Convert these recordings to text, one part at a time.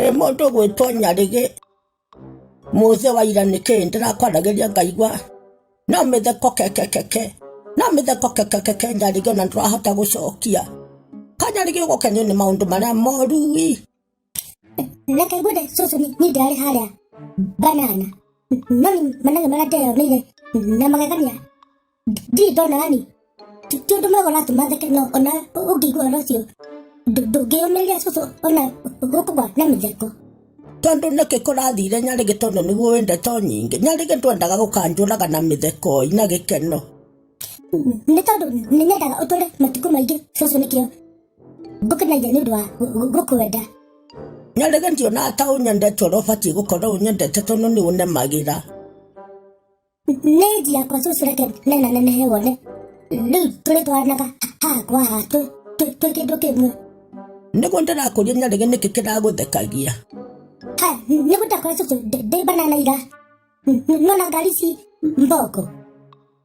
ĩ mũndũ gwĩtwo nyarĩgĩ mũthĩ wa ira nĩ kĩĩ ndĩrakwaragĩria ngaigua no mĩtheko kekekeke no mĩtheko kekekeke nyarĩgĩ na ndũrahota gũcokia kanyarĩgĩ ũgũkenio nĩ maũndũ marĩa moru ii reke ngwende cũcũ nĩ nĩ ndarĩ harĩa banana no nĩ managa marateyonire na magegania ndirĩ ndona yani ti ti ũndũ mwega ũratũma theke no ona ũngĩigua ũhoro ũcio ndũ- ndũngĩyũmĩrĩria cũcũ ona ũkũgwa na mĩtheko tondå nä kä kå rathire nyarä gä tondå nä guo wä ndeto nyingä nyarä gä ndwendaga gå kanjå raga na mä thekoi na gä keno nĩ tondũ nĩ nyendaga ũtũre matukũ maingĩ cũcũ nĩkĩo ngũkenagia nĩ ũndũ wa gũ- gũ- gũkwenda na rĩngĩ ndiona ta ũnyendete ũrĩa ũbatiĩ gũkorwo ũnyendete tondũ nĩ ũnemagĩra nĩ nji yakwa cũcũ reke nena nenehe wone rĩu tũrĩ twaranaga haha kwa haha twĩ- twĩ- twĩ kĩndũ kĩmwe nĩguo ndĩrakũria na rĩngĩ nĩkĩ kĩragũthekagia ha nĩ gũtakora cũcũ ndĩ banana ira nona ngari ici mboko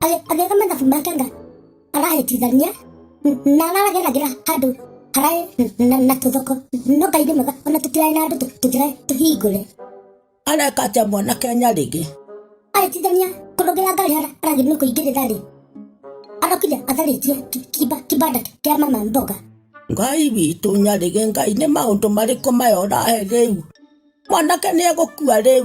agĩka mathabu make nga arahĩtithania na arageragira andũ araĩ na tũthoko no ngai nĩ mwega ona tũtiraĩ na andũ tũtiraĩ tũhingũre areka atĩa mwana kenya rĩngĩ arĩtithania kũrũgĩra ngari aragĩ nĩ kũingĩrĩra rĩ arokire atharĩtie kibanda kĩa mama mboga ngai witũ nyarĩge ngai nĩ maũndũ marĩkũ maya ũrahe rĩu mwanake nĩ egũkua rĩu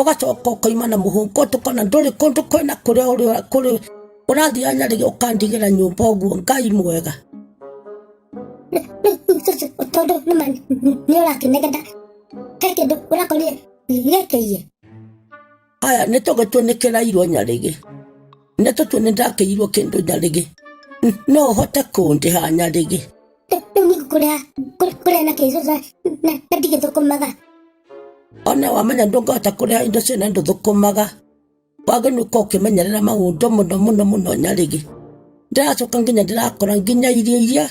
ũgacoka ũkaima na mũhũko tũkona ndũrĩ kũndũ kwĩna kũrĩa ũrĩ kũrĩ ũrathiĩ anyarĩ ũkandigĩra nyũmba ũguo ngai mwega tondũ nĩma nĩ ũrakĩnegenda he kĩndũ ũrakorire gĩkĩiye aya nĩ tũgĩtue nĩ kĩrairwo nyarĩgĩ nĩ tũtue nĩ ndakĩirwo kĩndũ nyarĩgĩ no ũhote kũndĩha nyarĩgĩ rĩu nĩ kũrĩa kũrĩa na kĩcuca na ndigĩthũkũmaga Ona wamenya ndũngĩhota kũrĩa indo ciene ndũthũkũmaga. Wagĩrĩirwo gũkorwo ũkĩmenyerera maũndũ mũno mũno mũno nyarĩrĩ. Ndĩracoka nginya ndĩrakora nginya irio iria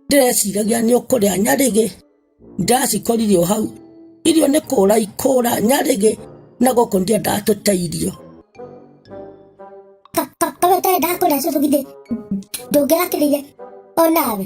ndĩreciragia nĩ ũkũrĩa nyarĩrĩ, ndĩracikoririe o hau. Irio nĩ kũra ikũra nyarĩrĩ, na gũkũ ndiendaga tũteirio. Ta ta ta we ũtendaga kũrĩa cũcũ githĩ ndũngĩrakĩrĩire onawe?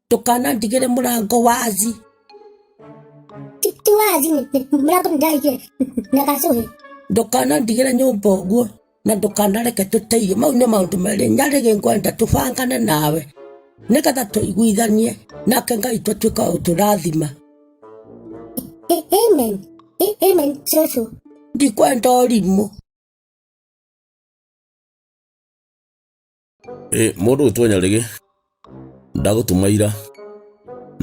ndũkanandigĩre mũrango wazi ti ti wazi mũrango nĩndaigĩre na gacũhĩ ndũkanandigĩre nyũmba ũguo na ndũkanareke tũteithie mau nĩ maũndũ merĩ nyarĩgĩ ngwenda tũbangane nawe nĩgetha tũiguithanie nake ngai tũtuĩka ũtũrathima A- amen A- amen cũcũ ndikwenda ũrimũ Ĩ, mũndũ ũyũ twenya rĩgĩ ndagũtuma ira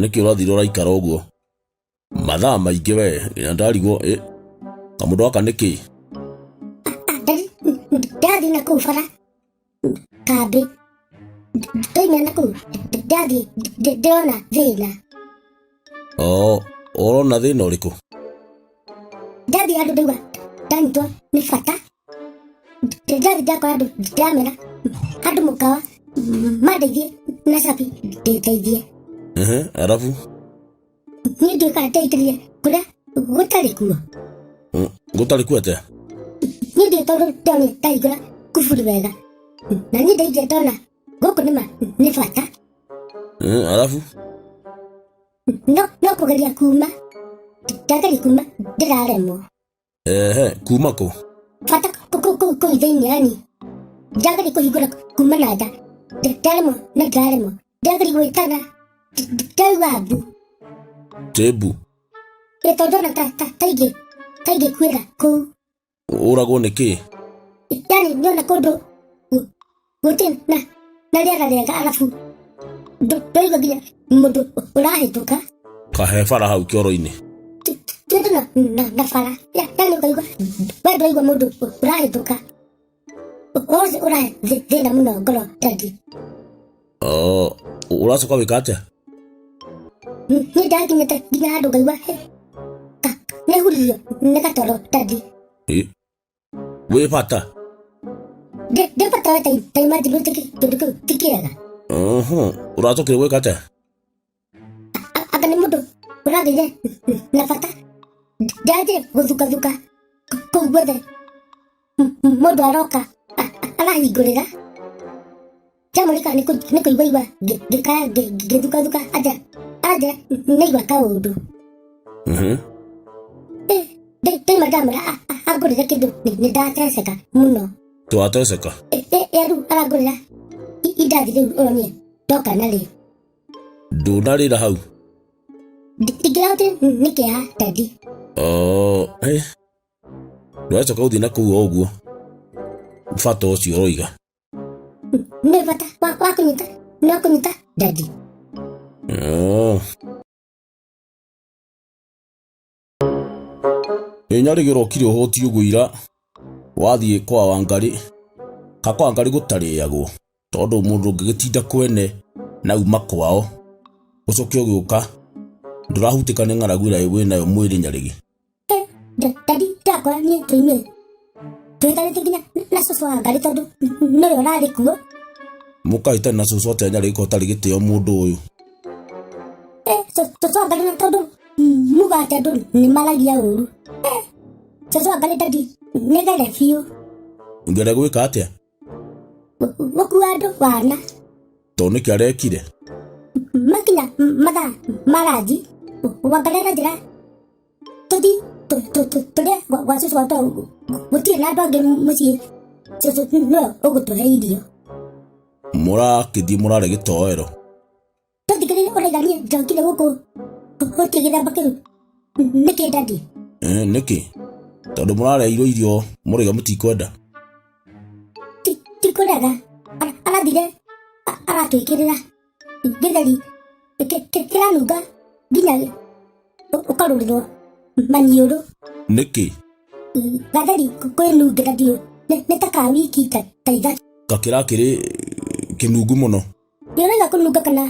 nĩkĩ ũrathire ũraikara ũguo mathaa maingĩ we nginya ndarigwo ĩ kamũndũ gaka nĩkĩ ndathiĩ na kũu bara kambĩ ndoima na kũu ndathiĩ ndĩrona thĩna Oo, ũrona thĩna ũrĩkũ? Ndathi andũ ndauga ndanyitwo nĩ bata. Ndathi ndakora andũ ndamera andũ mũkawa mandeithie na cabi ndĩteithie. Ehe, arabu? Niĩ ndiũĩ kana ndeithĩrĩria kũrĩa gũtarĩ kuo. Mm, Gũtarĩ kuo atĩa? Niĩ ndiũĩ tondũ ndonire ndahingũra kuburi wega. Na niĩ ndaingĩra ndona No kunima nifata. Mm, alafu no no kugeria kuma ndageri kuma ndiraremwo ehe kuma ko bata kũu thĩinĩ yani ndageri kũhingũra kuma na nda ndaremwo na ndaremwo ndageri gwĩtana ndauga mbu tebu ĩ tondũ ona ta ta taingĩ taingĩ kwĩra kũu ũragwo nĩ kĩ yarĩ nyona kũndũ gũtĩ na na rĩera rĩega arabu ndũ- ndũigua nginya mũndũ ũrahĩtũka kahe bara hau kĩoro-inĩ kĩndũ na na na bara Ya- yarĩ ũkaigua we ndũraigua mũndũ ũrahĩtũka wose ũrahe thĩna mũno ngoro dadi ũracoka wĩka atĩa nĩ ndakinyĩte nginya handũ ngaigua nĩ huririo nĩ gatoro ndathi wĩ bata ndĩ bata we taimajigwĩte kĩndũ kĩu ti kĩega ũracokire gwĩka atĩa anga nĩ mũndũ ũrathire na bata ndathiĩ gũthukathuka kũu guothe mũndũ aroka arahingũrĩra chamũrĩka nĩ kũiguaigua ngĩkaya ngĩthukathuka aja aja nĩigua kaũndũ ndaima ndamũra angũrĩre kĩndũ nĩ ndateceka mũno twateceka rĩu arangũrĩra indathi rĩu onie ndoka narĩo Ndũnarĩra hau. Ndingĩrahota nĩ kĩeha Teddy. Oh, eh. Ndũracoka gũthiĩ na kũu o ũguo. Bata ũcio ũroiga. Nĩ bata wa wa kũnyita no kũnyita Teddy. Oh. Ĩ nyarĩgĩrwo kiri ũhũti ũguo ira wathiĩ kwa Wangarĩ ka kwa Wangarĩ gũtarĩagwo tondũ mũndũ ũngĩgĩtinda kwene na uma kwao ũcoke ũgĩũka ndũrahutĩka nĩ ng'aragu ĩrĩa wĩnayo mwĩrĩ nyarĩgĩ. Ndadi ndakora niĩ ndoimire twĩtari tiginya na cũcũ wa ngari tondũ nĩwe ũrarĩ kuo mũkai tene na cũcũ atĩa nyarĩka ũtarĩ gĩtĩo mũndũ ũyũ Eh, cũ- cũcũ wa ngari na tondũ muga atĩ andũ nĩ maragia ũru Eh, cũcũ wa ngari ndandi nĩgere biũ ngere gwĩka atĩa Gũ- gũkua andũ wana tondũ nĩkĩ arekire makinya mathaa maranji wangarera njĩra tũthi tũrĩa gwa cũcũ wa twaũ gũtirĩ na andũ angĩ mũciĩ cũcũ nĩwe ũgũtũhe irio mũrakĩthiĩ mũrare gĩtoero tũthikĩrĩre ũraiga niĩ njokire gũkũ gũtirĩ gĩthamba kĩu nĩkĩ ndandi Eh, nĩkĩ tondũ mũrareirwo irio mũrĩga mũtikwenda tikũrega arathire aratwĩkĩrĩra gĩtheri kĩ- kĩ- kĩranunga nginya ũ- ũkarũrĩrwo maniũrũ nĩkĩ gatheri kwĩnungĩra ndiũ nĩ- nĩ ta ka wiki ta ta ithatũ gakĩra kĩrĩ kĩnungu mũno nĩũraiga kũnunga kana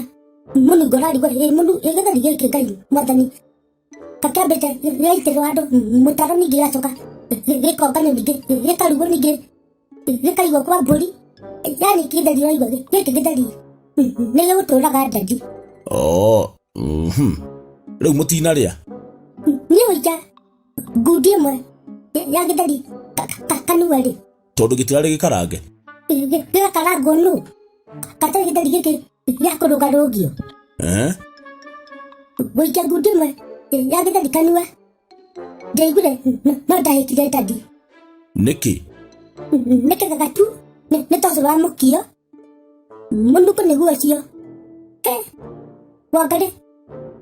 mũnungo ũrarigwo ĩ mũnu- ĩ gĩtheri gĩkĩ ngai mwathani kakĩambĩte gĩaitĩrwo andũ mũtaro ningĩ gĩgacoka gĩkomba ningĩ gĩkarugwo ningĩ gĩkaigwo kwa mbũri yani kĩtheri ũraigua gĩ- gĩkĩ gĩtheri nĩ gĩgũtũraga ndandi oo mhm. rĩu mũtinarĩa niĩ ũija ngundi ĩmwe ya- ya gĩtheri ka- ka- ka- kanua rĩ tondũ gĩtirarĩ gĩkarange gĩgakarangwo nũ gatarĩ gĩtheri gĩkĩ ya kũrũga rũgio Eh? gũikia ngunduma ya gĩtheri kanua ndaiguire n- no ndahĩkire ndadi Nĩkĩ? nĩ kĩgaga tu nĩ nĩ tondũ wa mũkio mũnungo nĩguo ũcio Eh, wangarĩ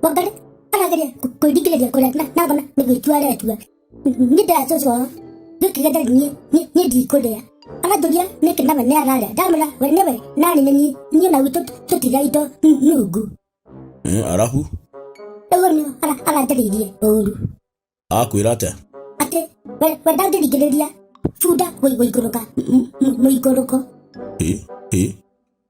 wangarĩ arageria kwĩringĩrĩria kũrĩa na- nabona nĩ gwĩtua aretua nĩ ndacoco wao gĩkĩga ndarĩ niĩ niĩ- niĩ ndikũrĩa aranjũria nĩkĩ nawe nĩ ararĩa ndamwĩra we nĩwe narĩ nĩ niĩ niĩ na gwitũ tũtiga indo n- nungu Mm, arabu ũguo nĩ ara- aranjarĩirie ũru akwĩra atĩa atĩ we we ndangĩringĩrĩria bunda gũi- gũikũrũka m- m- mũikũrũko Ĩ, ĩ.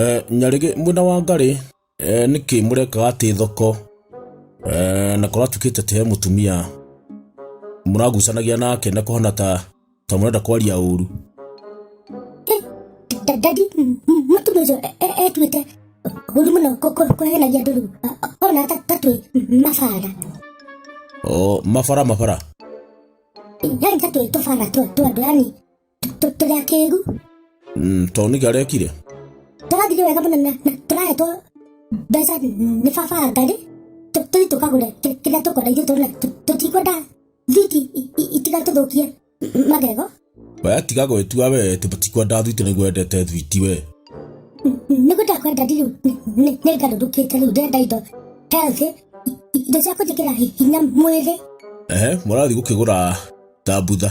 Eh, nyarĩgĩ mwena wa ngarĩ eh, nĩkĩ mũrekaga atĩ thoko eh, na kũratuĩkĩte atĩ he mũtumia mũragucanagia nake na kũhana ta ta mũrenda kwaria ũru ndadi mũtumia ũcio etuĩte ũru mũno kũhenagia andũ rĩu ona tatwĩ mabara o mabara mabara yani tatwĩ tũbara twa andũ yani tũrĩ akĩgu Mm, tondũ nĩkĩ arekire tũrathire wega mũno na na tũrahetwo mbeca nĩ baba ngarĩ tũthi tũkagũre kĩ- kĩrĩa tũkwenda ithuĩ tũrĩ na tũtikwenda thiti i- i- itiga tũthũkie m- magego we tiga gwĩtua we tibatikwenda thwiti nĩguo endete thwiti we nĩguo ndakwenda rĩu nĩ ngarũrũkĩte rĩu ndenda indo healthy i- i- indo cia kũnjĩkĩra hi- hinya mwĩrĩ ehe mũrathiĩ gũkĩgũra thambutha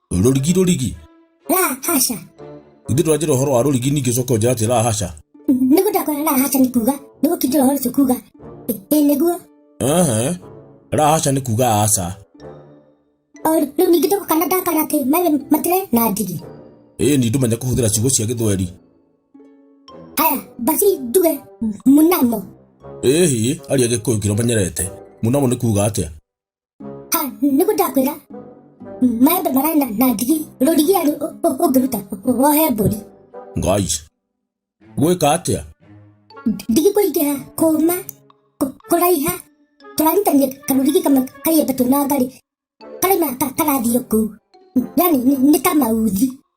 rũrigi rũrigi La hasha. ithuĩ tũranjĩra ũhoro wa rũrigi ningĩ coka ũnjĩra atĩ la hasha Nĩguo ndakwĩra la hasha nĩ kuga. Nĩguo kĩndĩra ũhoro ũcio kuga. Ĩ, Ĩ nĩguo. Ehe. la hasha nĩ kuga aca O rĩu ningĩ tũko kana ndakara atĩ mawe matire na ndigi. ĩĩ ni ndũmenya kũhũthĩra ciugo cia gĩthweri Haya, basi nduge mnamo. ĩĩ hiĩ aria gĩkũyũ kĩrĩa ũmenyerete mũnamo nĩ kuga atĩa ha nĩ kũ ndakwĩra maembe mararĩ na, na ndigi rũrigi arĩ ũngĩruta wohe mbũri ngai gwĩka atĩa ndigi kũingĩha kũma kũ- kũraiha tũrarutania karũrigi kamwe kaiembe tũnangarĩ karĩ na ka- karathiĩ kũu yani nĩ- nĩ ta mauthi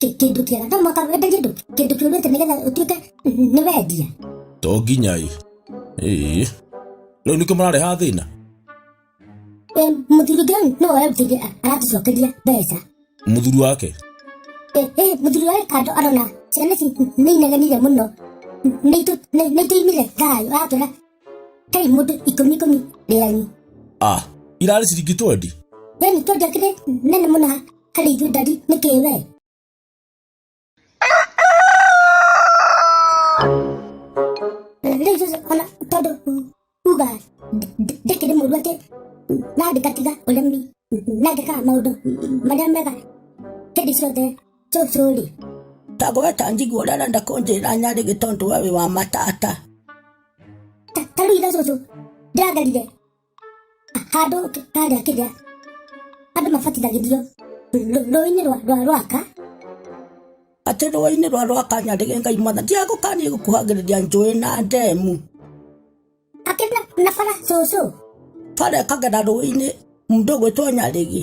kĩndũ kĩega na mwaka wendagia andũ kĩndũ kĩũrĩte nĩgetha ũtuĩke nĩ wendia to nginya ĩ ĩĩ rĩu nĩkĩo marareha thĩna Eh, mũthuri ũngĩ rĩu nĩwe ũrarutĩire aratũcokeria mbeca mũthuri wake Eh, eh, mũthuri wa kando arona ciana ici nĩ inegenire mũno nĩ itũimire thayũ aratwĩra kai mũndũ ikũmi ikũmi rĩanyu a irarĩ ciringi twendi we nĩ twendĩa kĩrĩ nene mũna harĩ ithuĩ ndari nĩ kĩĩ we rĩu Joseph ona tondũ uga ndĩkĩrĩ mũru atĩ na ndĩkatiga ũremi na ngĩkaga maũndũ marĩa mega hĩndĩ ciothe Tũthũri. Tagweta njiguo rara ndakũnjĩra nyarĩ gĩtondu wa wĩ wa matata. Ta- Tarũ itha cũcũ. Ndĩragerire. Handũ kĩ- harĩa kĩrĩa. Andũ mabatithagĩrio. Rũ- Rũĩ-inĩ rwa rwa rwaka. Atĩ rũĩ-inĩ rwa rwaka nyarĩ ngai mwana. Ndiagũkanie gũkuhagĩrĩria njũĩ na ndemu. Akĩrĩ na- na bara cũcũ. Bara ĩkagera rũĩ-inĩ mũndũ gwĩtwo nyarĩgi.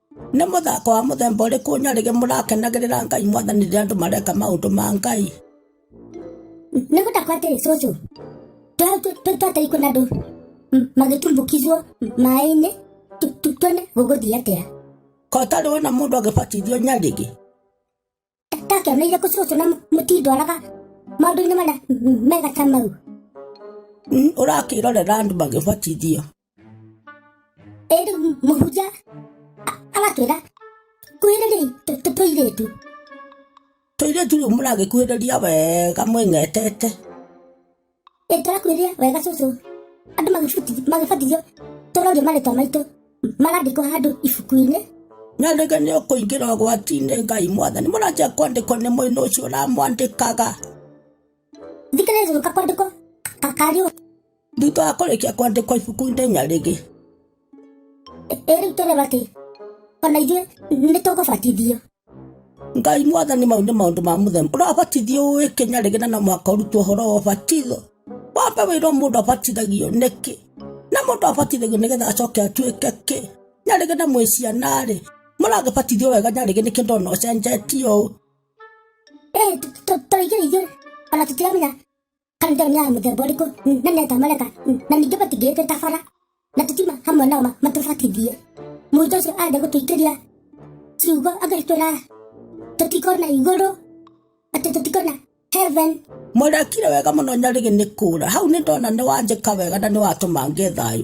Nĩ mũthako wa mũthemba ũrĩkũ nyarĩgĩ mũrakenagĩrĩra Ngai mwathani rĩrĩa andũ mareka maũndũ ma Ngai? Nĩ gũtakwa atĩrĩ cũcũ, twatei kwĩna andũ magĩtumbũkizwo maĩ-inĩ tuone gũgũthiĩ atĩa. Kotarĩ wona mũndũ agĩbatithio nyarĩgĩ. ndakĩoneire kũcũcũ na mũtindwaraga maũndũ-inĩ marĩa mega ta mau ũrakĩrorera andũ magĩbatithio ĩ rĩu mũhunjia a- aratwĩra kuhĩrĩriai tũ- tũ- tũirĩtu tũirĩtu rĩu mũragĩkuhĩrĩria wega mwĩngetete ĩtarakuĩria wega cucu andũ magĩbuti- magĩbatithio tũrorio marĩtwa maitũ marandĩkwo handũ ibuku-inĩ na rĩngĩ nĩ ũkũingĩra ũgwati-inĩ ngai mwathani mũranjia kwandĩkwo nĩ mwĩna ũcio ũramwandĩkaga thikĩrĩria gũka kwandĩkwo kakariũ thutha wa kũrĩkia kwandĩkwo ibuku-inĩ nyarĩgĩ ĩrĩu tũreba atĩ ona ithuĩ nĩ tũgũbatithio ngai mwathani mau nĩ maũndũ ma mũthemba ũrabatithio ũĩ kenya rĩngĩ na no mũhaka ũrutwo ũhoro wa ũbatitho wambe wĩrwo mũndũ abatithagio nĩkĩ na mũndũ abatithagio nĩgetha acoke atuĩke kĩ nyarĩgĩ na mwĩ ciana-rĩ mũragĩbatithio wega nyarĩgĩ nĩkĩ ndona ũcenjetie ũũ Eh, tũ- tũ- tũrĩithĩrĩithio ona tũtiramenya karanja nĩ ya mũthemba ũrĩkũ na neta mareka na ningĩ matingĩĩtwo ta bara na tũtima hamwe nao matũbatithie mũico ũcio arenda gũtũingĩria ciugo agĩtwĩra tũtikona igũrũ atĩ tũtikona heaven Mũrekire wega mũno nyarĩgĩ nĩ kũra. Hau nĩ ndona nĩ wanjĩka wega na nĩ watũma ngĩe thayũ.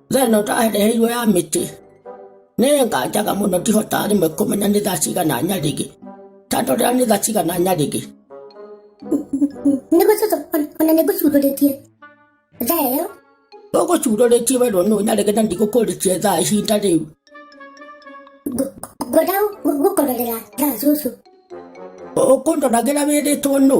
theno ndareheirwo ya mĩtĩ nĩ nganjaga mũno ndihotaga rĩmwe kũmenya nĩ thaa cigana nyarĩgĩ tondũ rĩrĩa nĩ thaa cigana nyarĩgĩ nĩguo cũcũ ona nĩ ngũcurũrĩtie thaa ĩyo ũgũcurũrĩtie wendo nũ nyarĩgĩ na ndigũkũrĩtie thaa ihinda rĩu ngwenda gũkororera thaa cũcũ ũkũndoragĩra wĩrĩtwo nũ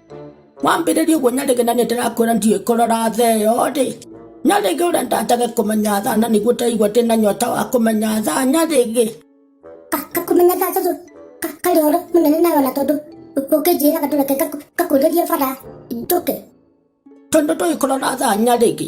wambĩrĩria ũguo nyarĩge na nĩndĩrakwĩra ndiũĩ kũrora tha ĩyo rĩ nyarĩge ũrĩa ndatage kũmenya tha na nĩguo ndaigua ndĩ na nyota wa kũmenya tha nyarĩge kakumenya tha tondũ karĩ ũhoro mũnene nayo na tondũ ũngĩnjĩraga ndũreke ngakũrĩrie bara njũke tondũ ndũĩ kũrora tha nyarĩge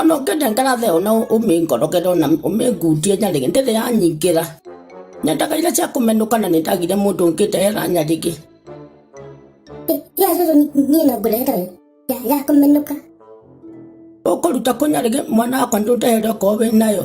Ona ũngĩenda ngarathe ona ũmĩngoroge ona ũmĩngunjie nyarĩge ndĩrĩ yanyingĩra. Nyendaga iria cia kũmenũka na nĩndagire mũndũ ũngĩndehera nyarĩge. Ya cũcũ niĩ no ngũrehere ĩ, ya- ya kũmenũka. Ũkũruta kũ nyarĩge mwana wakwa ndũndehere okorwo wĩ nayo.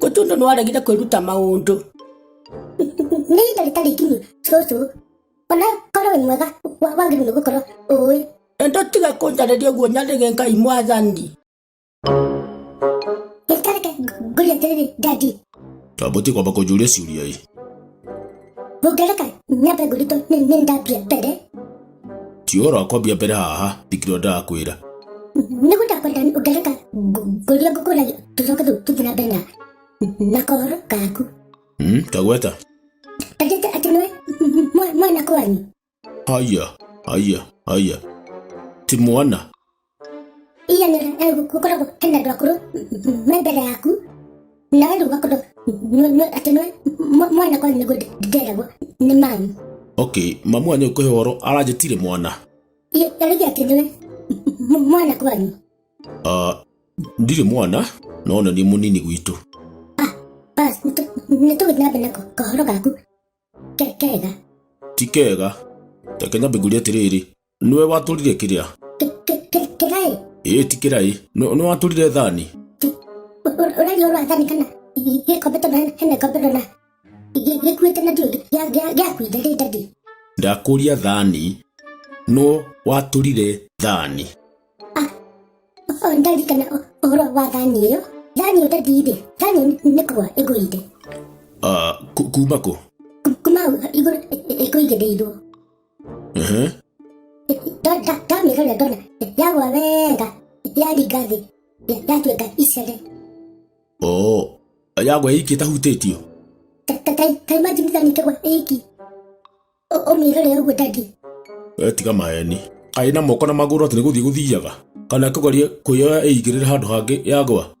Gũtũndũ nĩ waregire kwĩruta maũndũ. Nĩ ihinda rĩtarĩ nginyu cũcũ. Ona korwo wĩ mwega wa- wagĩrĩirwo nĩ gũkorwo ũĩ. Endo tiga kũnjarĩria ũguo nyarĩge Ngai mwathani. Gĩtareke ngũria atĩrĩrĩ ndandi. Twambũtie kwamba kũnjũria ciũria ĩ. Mũngereka nyambe ngũrutwo nĩ nĩ ndambia mbere. ti ũhoro wa kwambia mbere haha ndikĩrwo ndakwĩra nĩguo ndakwenda ũngereka ngũria ngũkũragia tũcoke tũ- tũthiĩ na mbere na na kohoro gaku Hmm, tagweta tajĩte atĩ nĩwe mwa- mwana kwanyu haya haya haya ti mwana iyanĩra eh, gũ- gũkoragwo hena andũ akũrũ m- me mbere yaku na wendo ũgakorwo nĩ- nĩ- atĩ nĩ mwa- mwana kwanyu nĩguo ndĩ- ndĩreragwo nĩ mamu okay mamu wanyu ũkũhe ũhoro aranjĩtire mwana Ĩ- arĩgĩ atĩ nĩwe m- mwana kwanyu Ah, ndirĩ mwana no na nĩ mũnini gwitũ bas nĩ tũgĩthiĩ na mbere na ko- kahoro gaku Ke- kega ti kega reke nyambe ngũrie atĩrĩrĩ nĩwe watũrire kĩrĩa kĩraĩ ĩĩ ti kĩraĩ Nĩ- nĩ watũrire thani ũraria ũrwa thani kana gĩkombe tondũ hena- hena gĩkombe ndona gĩkuĩte na ndiũ gĩakuire rĩ ndadi ndakũria thani no watũrire thani o ndarikana ũ- ũhoro wa thani ĩyo thani ĩyo ndadi rĩ thani ĩyo nĩ- nĩ kũgwa ĩgũire Ah, ku- kuma kũ Ku- kuma igũrũ ĩkũigĩrĩirwo ndamĩgeria ndona yagwa wega yaringa thĩ yatuĩka icere yagwa iki ĩtahutĩtio taimajinithanyitagwa iki ũmĩrore ũguo dadi tiga maeni kaĩ na moko na magũrũ atĩ nĩ gũthiĩ gũthiaga kana kũgeria kwĩyoya ĩingĩrĩre handũ hangĩ yagwa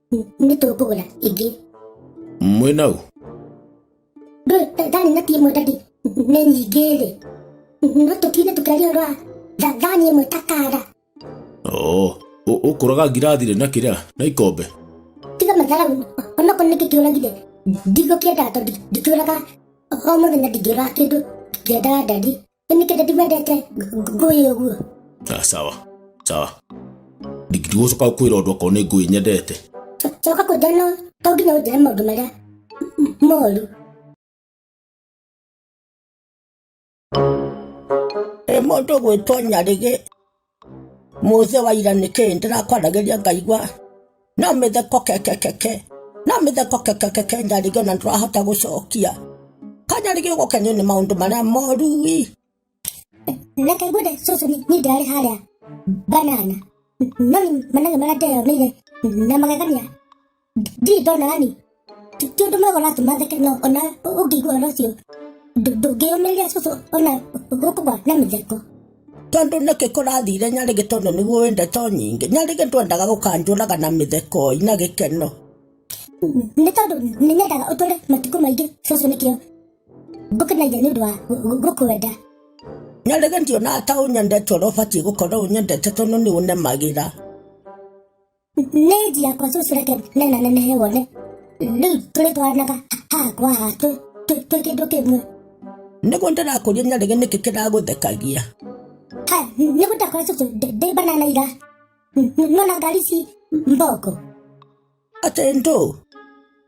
nĩ tũngũgũra ingĩ mwĩna ũ thani na ti ĩmwe dadi nĩ nyingĩ rĩ no tũkine tũkĩaria ũrwa thani ĩmwe ta kara oo ũkũraga ngirathi rĩ na kĩrĩa na ikombe tiga matharagu onokorwo nĩkĩ kĩũragire ndigũkĩendaga tondũ ndikĩũraga o mũthenya ndingĩũraga kĩndũ kĩendaga dadi Nĩkĩrĩa ndimendete ngũĩ ũguo. Ah, sawa sawa ndingĩgũcoka kwĩra ũndũ akorwo nĩ ngũĩ nyendete Co- Coka kũnjĩra no to nginya ũnjĩre maũndũ marĩa m- moru. Ĩ mũndũ gwĩtwo nyarĩgĩ Mũthĩ wa ira nĩkĩ ndĩrakwaragĩria ngaigua no mĩtheko kekekeke no mĩtheko kekekeke nyarigio na ndũrahota gũcokia kanyarigio gũkenio nĩ maũndũ marĩa moru wi reke ngwende cũcũ ni ni ndirarĩ harĩa banana no ni manage marĩa ndeyoneire na magegania ndirĩ ndona yani ti ti ũndũ mwega ũratũmatheke no ona ũngĩigua ũhoro ũcio ndũ- ndũngĩyũmĩria cũcũ ona gũkũgwa na mĩtheko tondå nä kä kå rathire nyarä gä tondå nä guo wä ndeto nyingä nyarä gä ndwendaga gå kanjåraga na mä theko na gä keno nĩ tondũ nĩ nyendaga ũtũre matukũ maingĩ cũcũ nĩkĩo ngũkenagia nĩ ũndũ wa gũ- gũ- gũkwenda nyarä gä ndionaga ta å nyendete å rä a å batiä gå korwo å nyendete tondå nä å nemagä ra nĩ njia kwa cucu reke nena nenehe wone rĩu tũrĩ twaranaga haha kwa haha twĩ- twĩ twĩ kĩndũ kĩmwe nĩguo ndĩrakũria nyarĩge nĩkĩ kĩragũthekagia ha nĩ gũtakora cucu ndĩ- ndĩ banana ira nona ngari ci mboko atĩ ndũ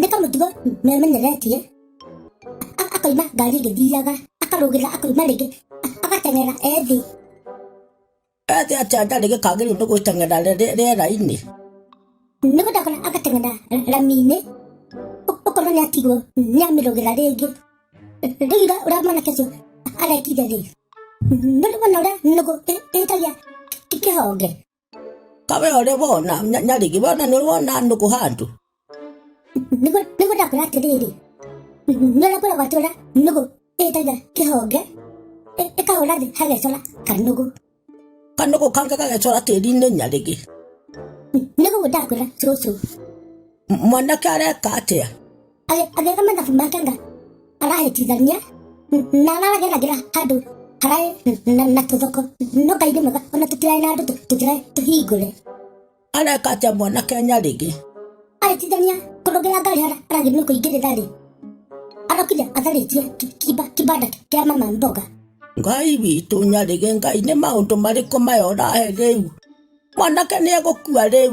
nĩ kamũtugo memenyeretiĩ akoima ngari ĩgĩthiaga akarũgĩra akoima rĩngĩ agateng'era ethĩ ethĩ atĩa ndarĩ gĩkagĩrĩu nĩ gwĩteng'era rĩera-inĩ nĩ gũtakora agateng'era rami-inĩ ũkorwo nĩ atigwo nĩ amĩrũgĩra rĩngĩ rĩu ira ũrĩa mwanake ũcio arekire rĩ nĩ ũrĩmona ũrĩa nũgũ ĩtagia kĩhonge kawe ũrĩ wona nya- nyarigi wona nĩ wona nũgũ handũ nĩguo nĩguo ndakwĩra atĩrĩrĩ nĩũrĩa kwĩra gwatũra nũgũ ĩtaga kĩhonge ĩ- ĩkahũra thĩ hagecora kanũgũ kanũgũ kange gagecora tĩri-inĩ nyarigi nĩguo ndakwĩra cũcũ M- mwanake areka atĩa Agĩ- agĩka mathabu make nga arahĩtithania na arageragira handũ haraĩ na, na tũthoko no ngai nĩ mwega ona tũtiraĩ na andũ tũ- tũtiraĩ tũhingũre areka atĩa mwana kenya rĩngĩ arĩtithania kũrũgĩra ngari hara aragĩ nĩ kũingĩrĩra rĩ arokire atharĩtie ki- kiba- kibanda kĩa mama mboga ngai witũ nyarĩge ngai nĩ maũndũ marĩkũ maya ũrahe rĩu mwanake nĩ egũkua rĩu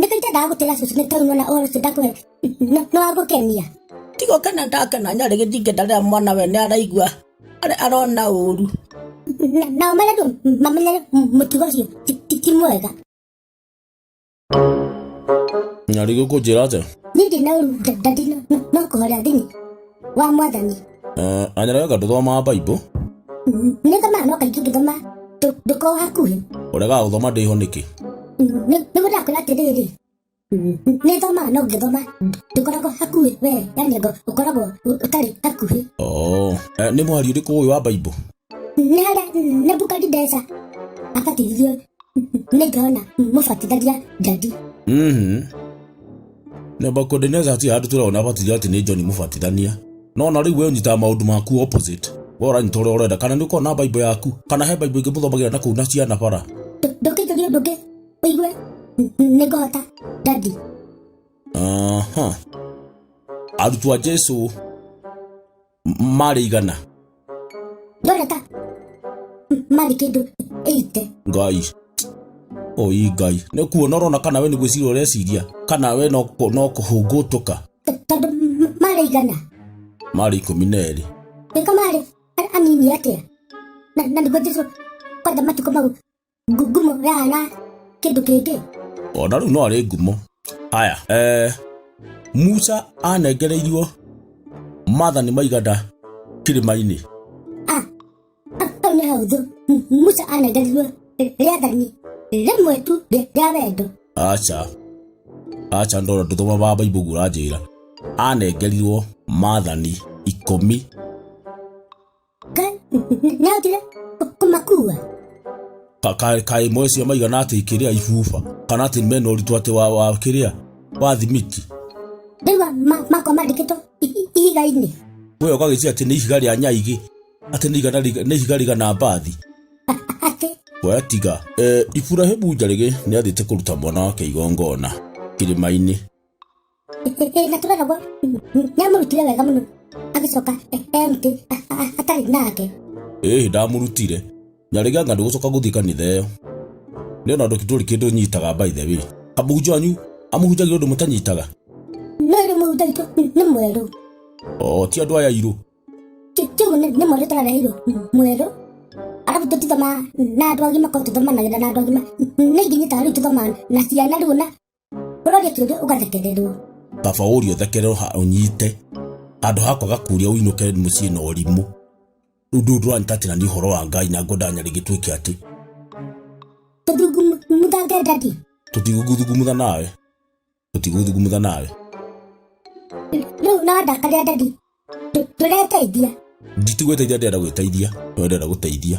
nĩkĩ itendaga gũtĩra cucu nĩ tondũ mwana ũhoro ũcio ndakũhe nĩ- nĩ wa gũkenia tigo kena ndakena nyarĩ gĩthingata rĩrĩa mwana we nĩ araigua arĩ arona ũru Na- nao marĩa andũ mamenyere mũtugo ũcio ti- ti- ti mwega nyarigũ kũnjĩra atĩa niĩ ndĩ na ũru nda- nda ndĩ na- no kũhoria thĩinĩ wa mwathani Eh, anyara yoka nduthomaa bible Mm, nĩ thomaga no kaingĩ ngĩthoma ndũ- ndũkoragwo hakuhĩ ũregaga gũthoma ndĩho nĩkĩ Mm, nĩ- nĩguo ndakwĩra atĩrĩrĩ Mm, nĩ thomaga no ngĩthoma ndũkoragwo hakuhĩ wee yani ngo ũkoragwo ũ- ũtarĩ hakuhĩ Oh, eh, nĩ mwari ũrĩkũ ũyũ wa bible nĩharĩa nebukadinesa abatithirio nĩ jona mũbatitharia njadi Mhm. Nebuchadnezzar ti handũ tũrona abatithio atĩ nĩ John mũbatithania. No na rĩu we ũnyitaga maũndũ maku opposite. We ũranyita ũrĩa ũrenda kana nĩ ũkorwo na Bible yaku kana he Bible ĩngĩ mũthomagĩra na kũu na ciana bara. ndũkĩnjũria ũndũ ũngĩ ũigue nĩ ngũhota njadi Aha. Arutwo a Jesu marĩ igana ndona ta m- marĩ kĩndũ ĩite ngai oi ngai nĩ kuona ũrona kana we nĩ gwĩciria ũreciria kana we no kũ- no kũhũngũtũka T- tondũ m- marĩ igana marĩ ikũmi na erĩ nĩko marĩ a- anini atĩa na na nĩguo jesu kwanja matukũ mau Ngu- ngumo yana kĩndũ kĩngĩ ona rĩu no arĩ ngumo aya eh, musa anengereirio mathani maigana kĩrĩma-inĩ Ah, ah, hau nĩ hahũthũ M- musa anengerirwo rĩathani rĩmwe tu rĩa rĩa wendo aca aca ndona ndũthoma ba baibu guo ũranjĩra anengerirwo mathani ikũmi Ngai, nĩ atire kũmakua. Ka- ka- kaĩ imwe cio maigana atä ikĩrĩa ibuba kana atä mena ũritũ atä wa wa kĩrĩa wa thimiti Ndĩrwa makwa mandĩkĩtwo ihiga-inĩ. we ũgagĩcia atä nä ihiga rä a nyaigä atä nä igana riga- nĩ ihiga rigana mbathi Atĩ, we tiga e, iburahimu njarĩgĩ nĩ athiĩte kũruta mwana wake igongona kĩrĩma-inĩ na tũrera gwa nĩ amũrutire wega mũno agĩcoka emti atarĩ nake ĩĩ ndamũrutire nyarĩga nga ndũgũcoka gũthiĩ kanitha ĩyo nĩ ona ndoki tũrĩ kĩndũ nyitaga by the way amũhunjia wanyu amũhunjagia ũndũ mũtanyitaga no rĩ mũhunjia witũ nĩ mwerũ o ti andũ aya irũ kĩu nĩ mwerũ tũrareheirwo mwerũ arabu tũtithoma na andũ agima korwo tũthomanagĩra na andũ agima nĩ ingĩnyitaga rĩu tũthoma na ciana rĩu na ũroria kĩũria ũgathekererwo kaba ũrio thekerero ha ũnyite handũ hakwa gakuria ũinũke mũciĩ na ũrimũ rĩu ndũũ ndũranyitatĩra nĩ ũhoro wa ngai na ngwenda nyarĩ gĩtuĩke atĩ tũthungumuthange ndadi tũtigũthugumutha nawe tũtigũthugumutha nawe rĩu no ndakarĩa ndadi tũreteithia nditigwĩteithia ndĩrenda gwĩteithia no ndĩrenda gũteithia